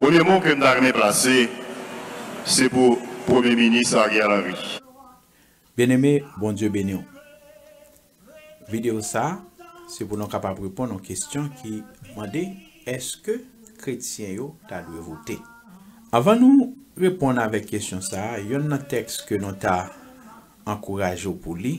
Premye mo ke m ta renmen plase se pou premye minis Ariel Henry. Byeneme, Bondye beni w. Videyo sa a se pou nou kapab reponn yon kesyon ki mande èske kretyen yo ta dwe vote. Anvan nou reponn avèk kesyon sa a, yonn nan tèks ke nou ta ankouraje w pou li,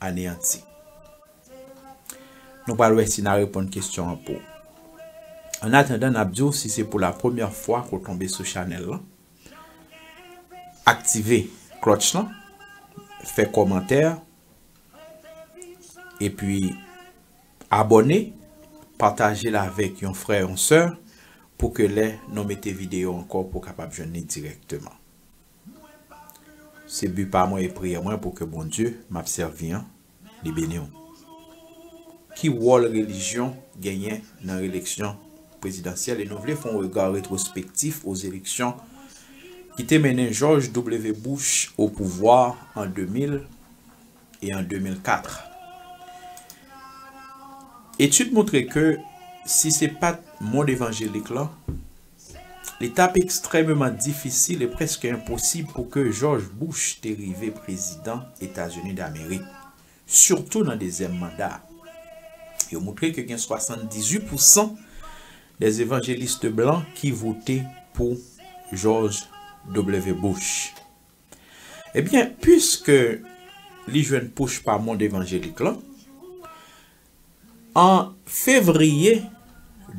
aneyanti. Nou pral wè si na reponn kesyon an pou. An atandan nap diw si se pou la premyè fwa ke w tonbe sou chanèl lan aktive klòch lan fè kòmantè epi abòne patajel avèk yon frè yon sè pou ke lè nou mete videyo ankò pou kapab jwenn li dirèkteman. Se but pa mwen e priyè mwen pou ke Bondye map sèvi an li beniw. Ki wòl relijyon genyen nan releksyon prezidansyèl e nou vle fon rega retrospektif o zeleksyon ki te mennen George W. Bush o pouvwa an 2000 e an 2004. Etid moutre ke si se pat mond evanjelik lan, Li tap ekstrèmeman difisil e prèske enposib pou ke Jòj Bouch te rive prezidan Etazini Damerik, sitou nan dezyèm manda a. Yo moutre ke gen 78 pou san dè evanjeliste blan ki vote pou Jòj W. Bouch. Ebyen, piske li jwenn pouch pa mond evanjelik lan, an fevriye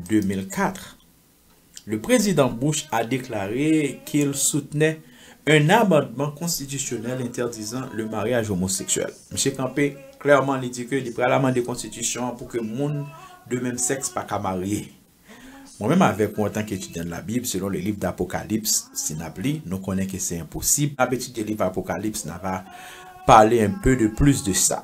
2004, Le prezidan Bush a deklare ke l soutnè un amandman konstitisyonèl entèdizan le maryaj omoseksyèl. Misye kanpe klèman li di ke li pral amande konstitisyon an pou ke moun de menm sèks pa ka marye. Mwen menm avèk ou antanke etidyan de la Bible, selon le liv d'Apocalypse, si n ap li, nou konnen ke se enposib. N ap etidye liv Apocalypse, n ava pale un peu de plus de sa.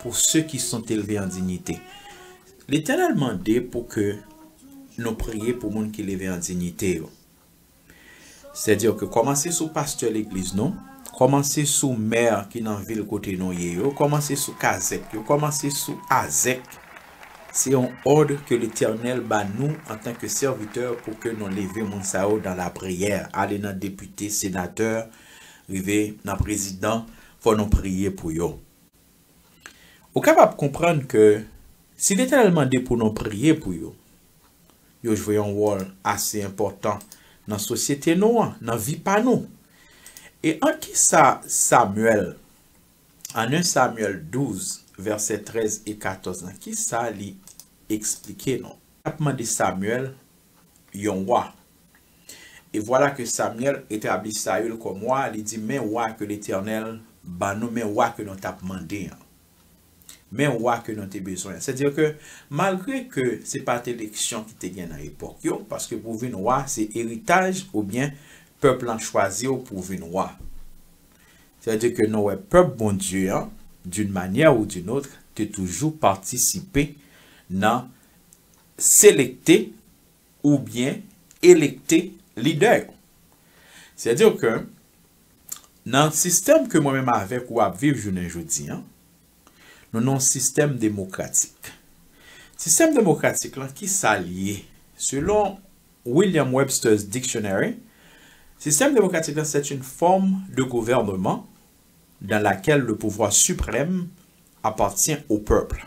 Pou se ki sont elve an dinyite. Letènèl mande pou ke nou priye pou moun ki leve an dinyite yo. Sè di ok, kòmanse sou pastè legliz nou, kòmanse sou mè ki nan vil kote nou ye yo, kòmanse sou kazèk yo, kòmanse sou azèk. Se yon òd ke Letènèl ba nou an tan ke sèvitè pou ke nou leve moun sa yo dan la priyè, ale nan depite, senatè, rive nan prezidan, fò nou priye pou yo. Ou kapab konprann ke si Letènèl mande pou nou priye pou yo, yo jwe yon wòl ase enpòtan nan sosyete nou an, nan vi pa nou. E an ki sa Samyèl, an 1 Samyèl 12, vèsè 13 e 14 lan, ki sa li esplike nou? Li t ap mande Samyèl, yon wa, E vwala ke Samyèl etabli Saül kòm wa, li di, Men wa ke Letènèl ban nou, men wa ke nou t'ap mande an. Men wa ke nou te bezwen an. Sètadi ke, malgre ke se pa te eleksyon ki te gen nan epòk yo, paske pou vin wa se eritaj oubyen pèp lan chwazi w pou vin wa. Sètadi ke nou wè pèp Bondye an, d'une manière ou d'une autre, te toujou patisipe nan selekte, oubyen elekte lidè yo. Sè dire ke nan sistèm ke mwen menm avèk ou ap viv jounen jodi an, nou nan yon sistèm demokratik. Sistèm demokratik lan ki sa l ye? Selon William Webster's Dictionary, sistèm demokratik lan c'est une forme de gouvernement dans laquelle le pouvoir suprême appartient au peuple.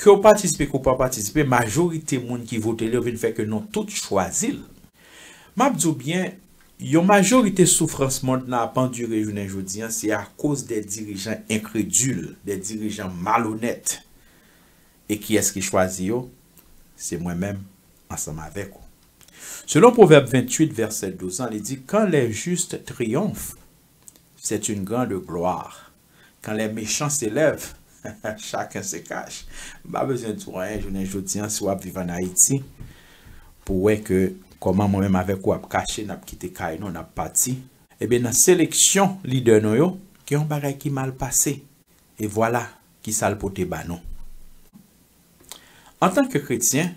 Ke w patisipe ke w pa patisipe, majorite moun ki vote l yo vin fè ke nou tout chwazi l. M ap di w byen, yon majorite soufrans mond lan ap andire jounen jodi an se akoz de dirijan enkredil, de dirijan malonèt. E kiyès ki chwazi yo? Se mwen menm ansanm avèk ou. Selon Pwovèb 28 vèsè 12 lan, li di, Quand les justes triomphent, c'est une grande gloire. Kan lè mechan se lèv chaken se kach m pa bezwen di w anyen jounen jodi an si w ap viv an Ayiti pou w wè ke kòman mwen menm avèk ou ap kache n ap kite kay nou n ap pati. Ebyen nan seleksyon lidè nou yo gen yon bagay ki mal pase e vwala kisa l pote ba nou. Antanke kretyen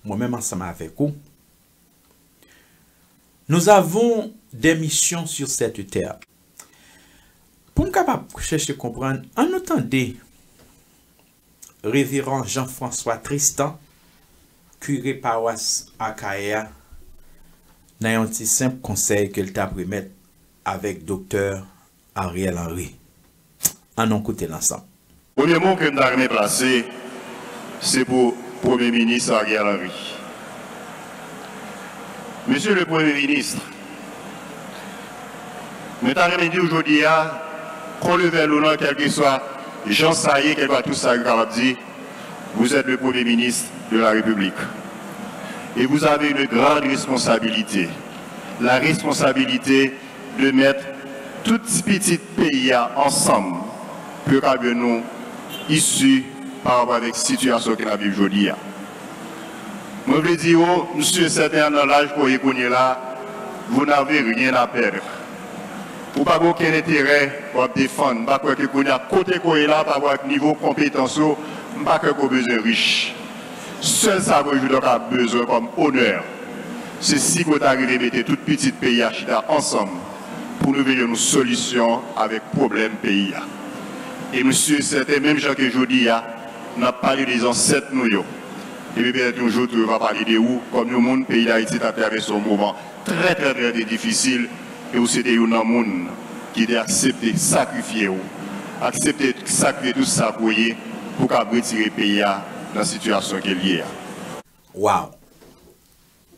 mwen menm ansanm avèk ou Nous avons des missions sur cette terre. Pou n kapab chèche konprann, an nou tande Reveran Jean François Tristan, kire pawas Akayè a, nan yon ti senp konsèy ke l t ap remèt avèk Doktè Ariel Henry. An nou koute l ansanm. Premye mo ke m ta renmen plase, se pou Premye Minis Ariel Henry. Mesye le Premye Minis, mwen ta renmen di w jodi a, kò levè lou nan kèlkeswa jan sa ye, kèlkeswa tout sa yo kapab di, vous êtes le Premier Ministre de la République et vous avez une grande responsabilité, la responsabilité 2 mèt tout ti pitit peyi ya ansanm pou yo ka byen nou isi pa rapò avèk sitiyasyon ke nap viv jodi ya. Mwen vle di yo, m si e sèten nan laj ke w ye kounye la, vous n'avez rien à perdre. Ou pa gen okenn enterè wap defann. M pa kwè ke kounye ya kote ke w ye la pa rapò ak nivo konpetans ou, m pa kwè ke w bezwen rich. Sèl sa mwen joudan ka bezwen kòm onè, se si mwen ta rive mete tout pitit peyi a chita ansanm pou nou veye yon solisyon avèk pwoblèm peyi a. E mwen si e sèten menm jan ke jodi a n ap pale de zansèt nou yo, e byen petèt yon jou tou yo va pale de ou kòm yon moun peyi Dayiti ta travèse yon moman Trè trè trè te difisil e ou se te youn nan moun ki te aksepte sakrifye ou, aksepte sakrifye tout sa ke w ye pou w kab retire peyi a nan sitiyasyon ke l ye a. Wow!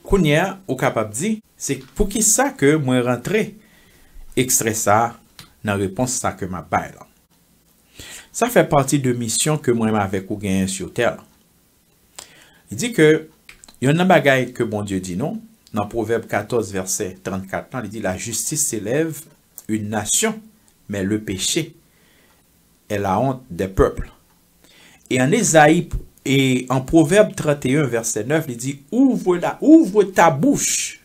Kounye a ou kapab di, se poukisa ke mwen rantre ekstrè sa a nan repons sa ke m ap bay lan. Sa fè pati de misyon ke mwen avèk ou genyen sur tè lan. Li di ke yonn nan bagay ke Bondye di nou, nan Pwovèb 14 vèsè 34 lan, li di, La jistis selèv yn nasyon, men le peche è la hont dè pèpl. E an Ezayi, e an Pwovèb 31 vèsè 9, li di, Ouvre ta bouch,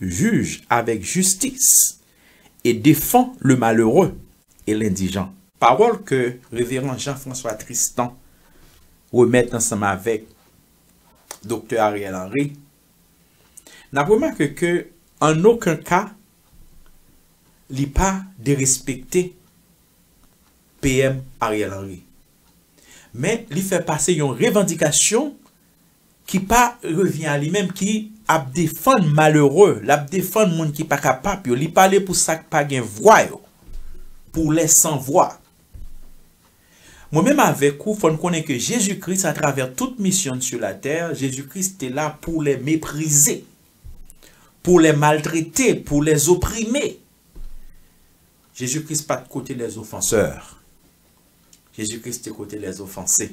juge avèk jistis, et défend le malheureux et l'indigent. Pawòl ke Reveran Jean François Tristan remèt ansanm avèk Doktè Ariel Henry, n ap remake ke an oken ka li pa derespekte PM Ariel Henry, men li fè pase yon revandikasyon ki pa revyen a li menm ki ap defann malere lap defann moun ki pa ka pap yo li pale pou sak pa gen vwa yo pou lè san vwa mwen menm avèk ou fòn konnen ke Jezi Kris a travè tout misyonn su la tè Jezi Kris te la pou lè meprize pou lè maltrete pou lè zoprime Jezi Kris pat kote lè zofansè Jezi Kris te kote lè zofanse.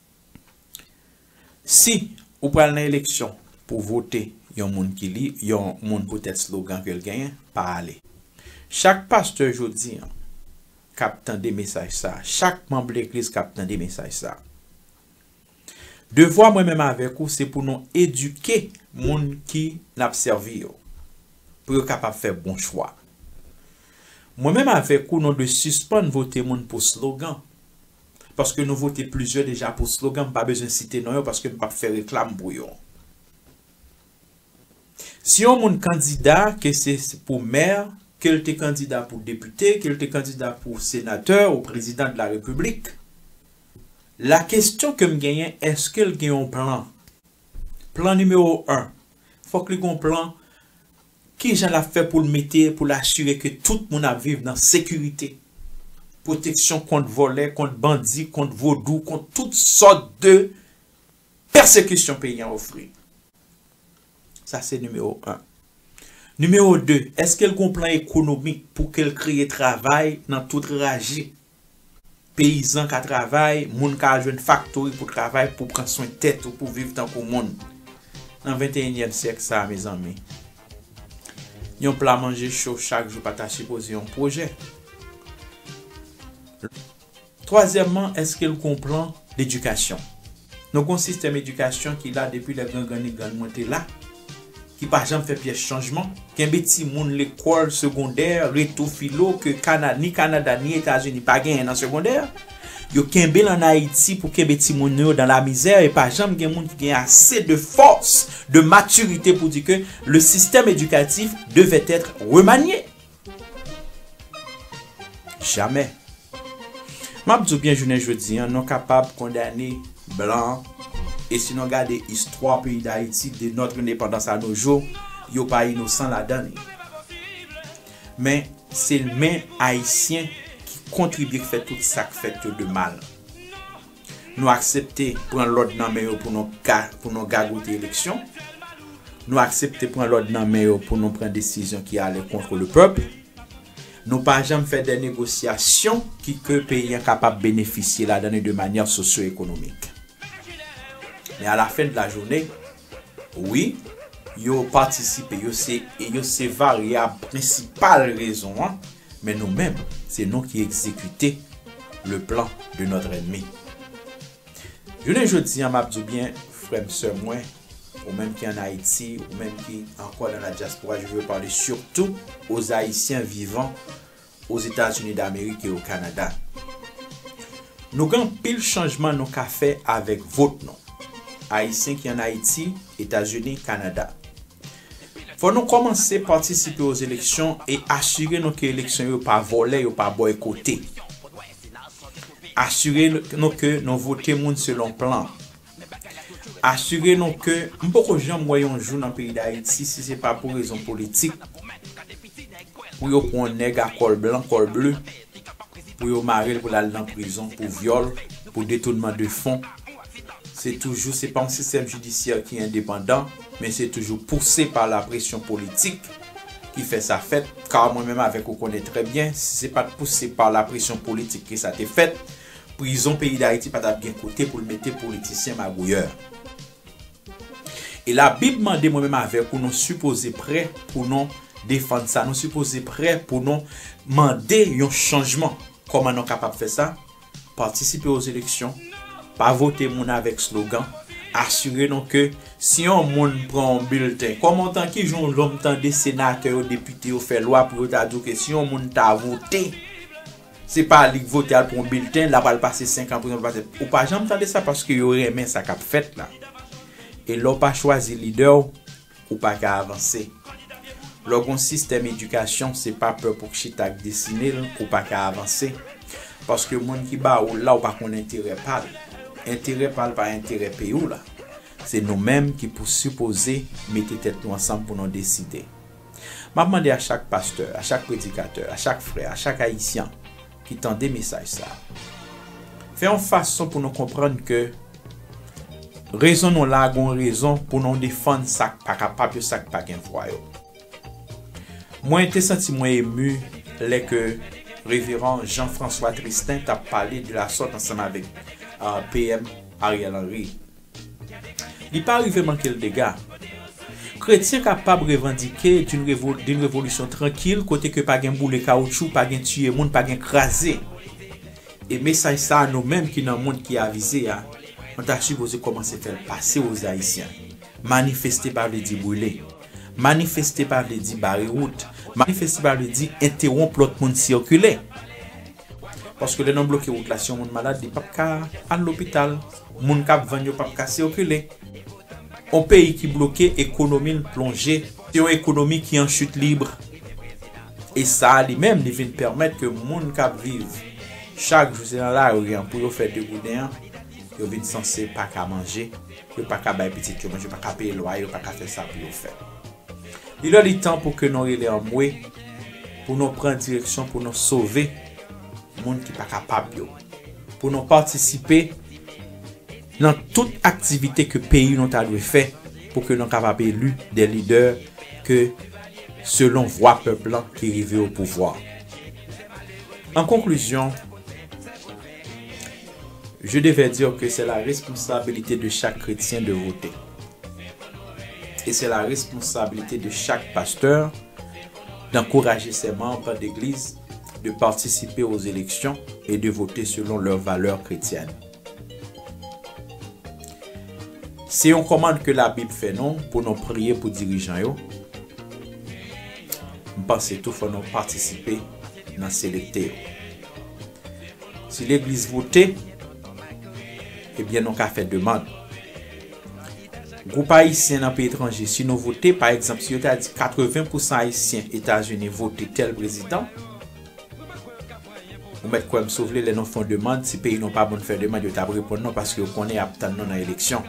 Si ou pral nan eleksyon pou vote yon moun ki li yon moun poutèt slogan ke l genyen, pa ale. Chak pastè jodi an k ap tande mesaj sa a, chak manb legliz k ap tande mesaj sa a, devwa mwen menm avèk ou se pou nou edike moun ki n ap sèvi yo pou yo kapab fè bon chwa. Mwen menm avèk ou nou dwe sispann vote moun pou slogan. paske nou vote plizyè deja pou slogan m pa bezwen site non yo paske m pap fè reklam pou yo. Si yon moun kandida ke se pou mè, ke l te kandida pou depite, ke l te kandida pou senatè ou prezidan de la repiblik, la kestyon ke m genyen eske l gen yon plan? Plan nimewo 1, fòk li gen yon plan Kijan l ap fè pou l mete pou l asire ke tout moun ap viv nan sekirite, pwoteksyon kont vòlè, kont bandi, kont vodou, kont tout sòt de pèsekisyon peyi an ofri? Sa se nimewo 1. Nimewo 2, èske l gen yon plan ekonomik pou ke l kreye travay nan tout raje Peyizan ka travay, moun ka al jwenn faktori pou travay pou pran swen tèt ou pou viv tankou moun. Nan venteyinyèm syèk sa a mezanmi, yon pla manje cho chak jou pa ta sipoze yon pwojè. Twazyèmman, èske l gon plan ledikasyon? Nou gon sistèm edikasyon ki la depi lè gran granni grann mwen te la, ki pa janm fè pyès chanjman. Kenbe timoun lekòl segondè, reto filo ke kana ni Kanada ni Etazini pa genyen nan segondè, yo kenbe l an Ayiti pou kenbe timoun nou yo dan lamizè e pa janm gen moun ki gen ase de fòs, de matirite pou di ke le système éducatif devait être remanié. Jamè. M ap di w byen jounen jodi an nou kapab kondane blan e si nou gade istwa peyi Dayiti de notre indépendance à nos jours yo pa inosan ladan li. Men se men Ayisyen ki kontribye k fè tout sa k fèt yo de mal. Nou aksepte pran lòd nan men yo pou nou ka pou nou gagote eleksyon. Nou aksepte pran lòd nan men yo pou nou pran desizyon ki ale kontre le pèp. Nou pa janm fè dè negosyasyon ki ke peyi an kapab benefisye ladan li de manyè sosyo-ekonomik. Men a la fen de la joune, Wi, yo patisipe, yo se e yo se varyab prensipal rezon an, men nou menm, se nou ki egzekite le plan de notre ennemi. Jounen jodi an m ap di w byen, frè m, sè mwen, ou menm ki an Ayiti, ou menm ki ankò nan la dyaspora, je veux parler surtout aux Haïtiens vivant Ozetazini Damerik e o Kanada. Nou gen anpil chanjman nou ka fè avèk vot nou. Ayisyen ki an Ayiti, Etazini, Kanada. Fò nou kòmanse patisipe o zeleksyon e asire nou ke eleksyon yo pa vòlè, yo pa bòykote. Asire nou ke nou vote moun selon plan. Asire nou ke m poko janm wè yon jou nan peyi Dayiti si se pa pou rezon politik pou yo pwan nèg a kòl blan kòl ble pou yo mare l pou l al nan prizon pou vyòl pou detounman de fon se toujou se pa yon sistèm jidisyè ki endepandan men se toujou pouse pa la presyon politik ki fè sa fèt ka mwen menm avèk ou konnen trè byen si se pat pouse pa la presyon politik ke sa te fèt. Prizon peyi dayiti pa tap gen kote poul mete politisyen magouyè. E la bib mande mwen menm avèk ou nou sipoze prè pou non defann sa nou sipoze prè pou non mande yon chanjman kòman nou kapab fè sa patisipe o eleksyon pa vote moun avèk slogan asire nou ke si yon moun pran yon bilten kòman tan ki jan ou janm tande senatè yo depite yo fè lwa pou yo ta di ke si yon moun ta vote. Se pa li k vote al pran yon bilten lap al pase 5 an prizon pou pase ou pa janm tande sa paske yo renmen sa kap fèt la e lè w pa chwazi lidè w ou pa ka avanse lè w gon sistèm edikasyon se pa pè pou k chita k desine l ou pa ka avanse paske moun ki ba ou l la ou pa konn enterè pa l enterè pa l pa enterè peyi w la se nou menm ki pou sipoze mete tèt nou ansanm pou nou deside. M ap mande a chak pastè, a chak predikatè, a chak frè, a chak Ayisyan ki tande mesaj sa a, fè yon fason pou nou konprann ke rezon nou la a gen yon rezon pou nou defann sa k pa kapab yo, sa k pa gen vwa yo. Mwen te santi mwen emu lè ke Reveran Jean François Tristin t ap pale de lasòt ansanm avèk PM Ariel Henry. Li pa rive manke l dega. Kretyen kapab revandike d'une revolisyon trankil kote ke pa gen boule kawoutchou, pa gen tiye moun, pa gen kraze. E mesaj sa a nou menm ki nan mond ki avize a, nou ta sipoze kòmanse fè l pase o Zayisyen. Manifeste pa vle di brile. Manifeste pa vle di bare wout. Manifeste pa vle di entewonp lòt moun sikile. Paske lè nan bloke wout la si yon moun malad li pap ka al lopital, moun kap vann yo pap ka sikile. Yon peyi ki bloke ekonomi l plonje. Se yon ekonomi ki an chit libre. E sa a li menm li vin pèmèt ke moun kap viv chak jou se nan lari an pou yo fè de gouden an yo vin sanse pa ka manje, yo pa ka bay pitit yo manje, yo pa ka peye lwaye, yo pa ka fè sa pou yo fè. Li lè li tan pou ke nou rele anmwe, pou nou pran direksyon pou nou sove moun ki pa kapab yo, pou nou patisipe nan tout aktivite ke peyi nou ta dwe fè pou ke nou kapab eli de lidè ke selon vwa pèp lan ki rive o pouvwa. An konklizyon, je devè dire ke se la responsabilite de chak kretyen de vote. E se la responsabilite de chak pastè dankouraje sè manb degliz de patisipe o zeleksyon e de vote selon lè valè kretyèn. Se yon kòmand ke labib fè nou pou nou priye pou dirijan yo, m panse tou fò nou patisipe nan selekte yo. Si legliz vote, ebyen nou ka fè demand. Gwoup Ayisyen nan peyi etranje si nou vote, pa egzanp si yo ta di 80 pousan Ayisyen Etazini vote tèl prezidan, ou mèt kwè m si w vle lè nou fon demand si peyi nou pa bon fè demand yo t ap reponn nou paske yo konnen y ap tann nou nan eleksyon.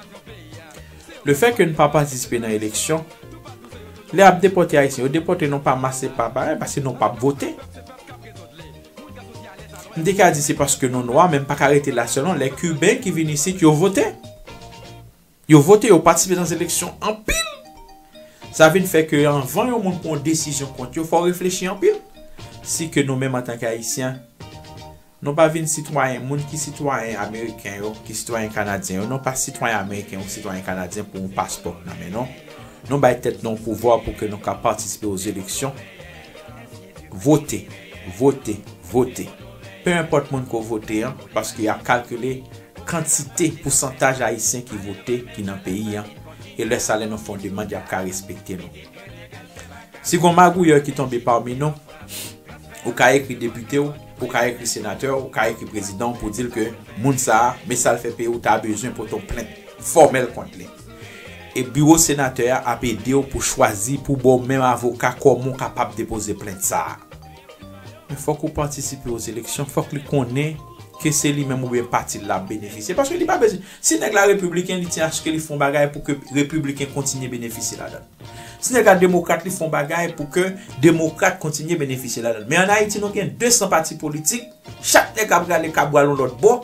Le fè ke n pa patisipe nan eleksyon, lè y ap depòte Ayisyen yo depòte nou pa mas e pa pa paske nou p ap vote. M te ka di se paske nou nwa men m pa ka rete la selon lè kiben ki vin isit yo vote. Yo vote, yo patisipe nan eleksyon anpil. Sa vin fè ke anvan yon moun pran yon desizyon kont yo fò w reflechi anpil. Si ke nou menm antanke ayisyen nou pa vin sitwayen moun ki sitwayen ameriken yo, ki sitwayen kanadyen yo nou pa sitwayen ameriken ou sitwayen kanadyen pou yon paspò nan men nou. Nou bay tèt nou yon pouvwa pou ke nou ka patisipe o zeleksyon. Vote! Vote! Vote! Pe enpòt moun ke w vote an, paske y ap kalkile kantite, pousantaj Ayisyen ki vote ki nan peyi an, e lè sa lè nou fè yon demand y ap ka respekte nou. Si gon magouyè ki tonbe pami nou, ou ka ekri depite w, ou ka ekri senatè w, ou ka ekri prezidan w pou di l ke moun sa a, me sa l fè peyi w ta bezwen pote yon plent fòmèl kont li. E biwo senatè a ap ede w pou chwazi pou ba w menm avoka kòman w kapab depoze plent sa a. Men fòk ou patisipe o zeleksyon, fòk li konnen ke se li menm oubyen pati l la ap benefisye. Paske li pa bezwen, si nèg la repibliken li ti aske li fè yon bagay pou ke repibliken kontinye benefisye ladan l. Si nèg la demokrat li fè yon bagay pou ke demokrat kontinye benefisye ladan l. Men an Ayiti nou gen 200 pati politik, Chak nèg ap rale kabwal yon lòt bò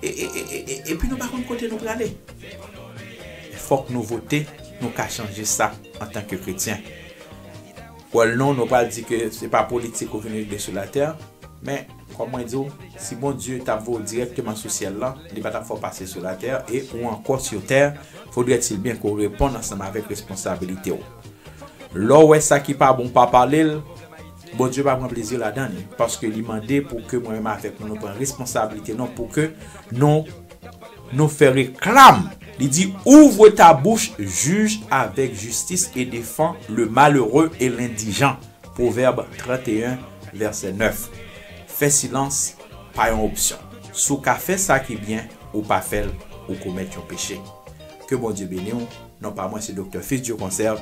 epi nou pa konn kote nou prale. Fòk nou vote nou ka chanje sa antanke kretyen. Well non nou pral di ke se pa politik ou vin regle sou latè men kòm mwen di w si Bondye tap voye w dirèkteman sou syèl lan li pa tap fè w pase sou latè e ou ankò sur tè fodrè t il byen ke w reponn ansanm avèk responsabilite w. Lè w wè sa ki pa bon pa pale l Bondye pa pran plezi ladan l paske li mande pou ke mwen menm avèk nou nou pran responsablite nou pou ke nou nou fè reklam li di ouvre ta bouch juge avèk jistis e defan le malere e lendijan pwovèb 31 vèsè 9 fè silans pa yon opsyon si w ka fè sa ki byen ou pa fè l ou komèt yon peche ke Bondye beni w non pa mwen se Doktè Fils Dieu Conserve